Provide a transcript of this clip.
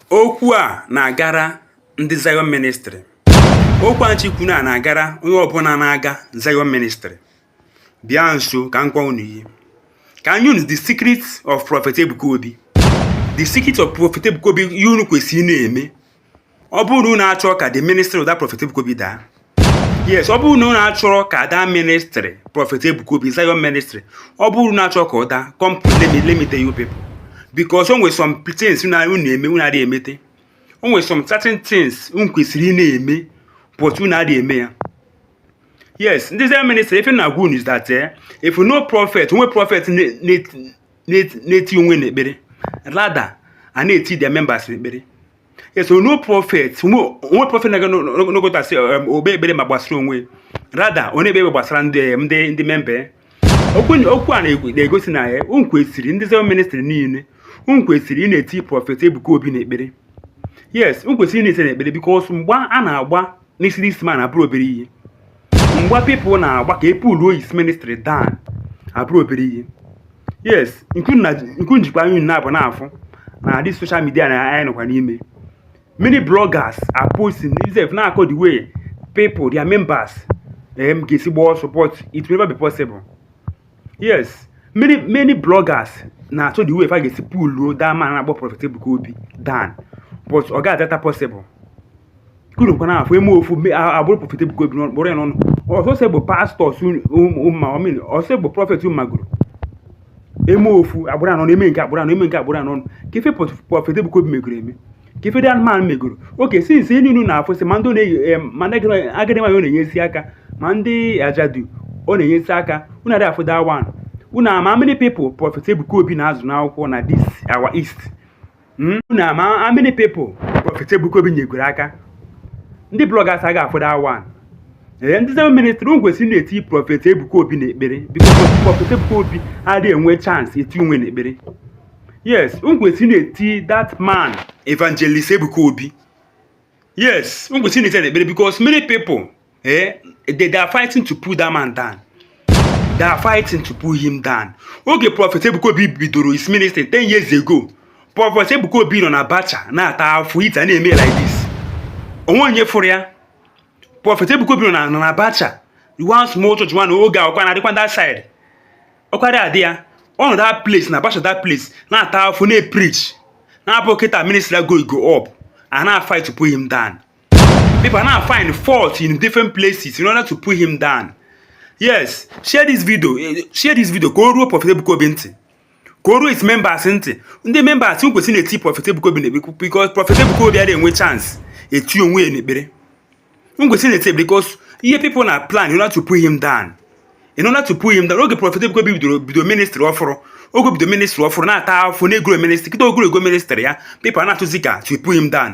Okwu a na-agara ndị Zion Ministry. Okwu a m chọ ikwu na na-agara onye ọbụla na-aga Zion Ministry. Bịa nso ka m gwa unu ihe. Ka m nye unu the secret of Prophet Ebuka Obi. The secret of Prophet Ebuka Obi ihe unu kwesịrị na-eme ọ bụrụ na unu achọọ ka the ministry of that prophet Ebuka Obi daa yes ọ bụrụ na unu achọrọ ka that ministry prophet Ebuka Obi Zion ministry ọ bụrụ na achọọ ka ọ daa come let me let me tell you people because o nwere some things na unu eme unu adịghị emete o nwere some certain things unu kwesịrị ị na-eme but unu adịghị eme ya yes ndị Zion ministry ife m na-agwa unu is that eh, if no prophet o nwe prophet na-eti onwe n'ekpere rather a na-eti their members n'ekpere yes so no prophet o nwe prophet na-aga n'ogotasị um, o kpee ekpere ma gbasara onwe rather ọ na-ekpere gbasara ndị um, ndị ndị member okwu a na-egosi na ya eh, unu kwesịrị ndị Zion ministry niile unu kwesịrị ị na-eti Prophet Ebuka Obi n'ekpere yes unu kwesịrị ị na-eti n'ekpere because mgba a na-agba n'isi this man abụrọ obere ihe mgba people na-agba ka e puluo his ministry down abụrọ obere ihe yes ọkwa unu jikwa anya naabọ na-afụ na this social media na anyị nọkwa n'ime many bloggers are posting themselves na-akọ the way people their members um, ga-esi gbaa support it will never be possible yes many many bloggers na-achọ the way fa ga-esi puluo that man na-akpọ Prophet Ebuka Obi down but ọ ga-adata possible kuru kwa na-afụ eme ofu me- a- abụrụ Prophet Ebuka Obi n'ọnụ kpọrọ ya n'ọnụ ọsọsọ bụ pastors ụma ọmịn ọsọ bụ prophet unu magoro eme ofu abụrụ ya ọnụ eme nke abụrụ ya ọnụ eme nke abụrụ ya ọnụ kee ife pọt- Prophet Ebuka Obi megoro eme kee ife that man megoro okay since niile na-afụ sị ma ndị ọ na-eyi em, ma ndị agadi- agadi nwaanyị ọ na-enyesi aka ma ndị ajadu ọ na-enyesi aka unu adịghị afụ that one unu ama how many people Prophet Ebuka Obi na-azụ n'akwụkwọ na this our east hmm? unu ma how many people Prophet Ebuka Obi nyegoro aka ndị bloggers aga afụ that one ee ndị Zion ministry unu kwesịrị na-eti Prophet Ebuka Obi n'ekpere because Prophet Ebuka Obi adịghị enwe chance eti onwe n'ekpere yes unu kwesịrị na-eti that man evangelist Ebuka Obi yes unu kwesịrị na-eti n'ekpere because many people eh they, they are fighting to pull that man down they are fighting to pull him down oge Prophet Ebuka Obi bidoro his ministry 10 years ago Prophet Ebuka Obi nọ na bacha na-ata afụfụ ite a na-eme like this o nwe onye fụrụ ya Prophet Ebuka Obi nọ na bacha one small church one oge akwụkwọ na-adịkwa that side ọkwara adị ya ọ nọ that place na bacha that place na-ata afụfụ na-epreach na-abụ kịta ministry go go up a na-fight to pull him down people now find fault in different places in order to pull him down yes share this video eh, share this video ka o ruo Prophet Ebuka Obi ntị ka o ruo his members ntị ndị members unu kwesịrị na-eti Prophet Ebuka Obi n'ekpere because Prophet Ebuka Obi adịghị enwe chance eti onwe ya n'ekpere unu kwesịrị na-eti ekpere because ihe people na plan in order to pull him down in order to pull him down oge Prophet Ebuka Obi bidoro bido ministry ọfụrụ oge o bido ministry ọfụrụ na-ata afụfụ na-egrow ministry kịta o growgo ministry ya people na-atụzi ka to pull him down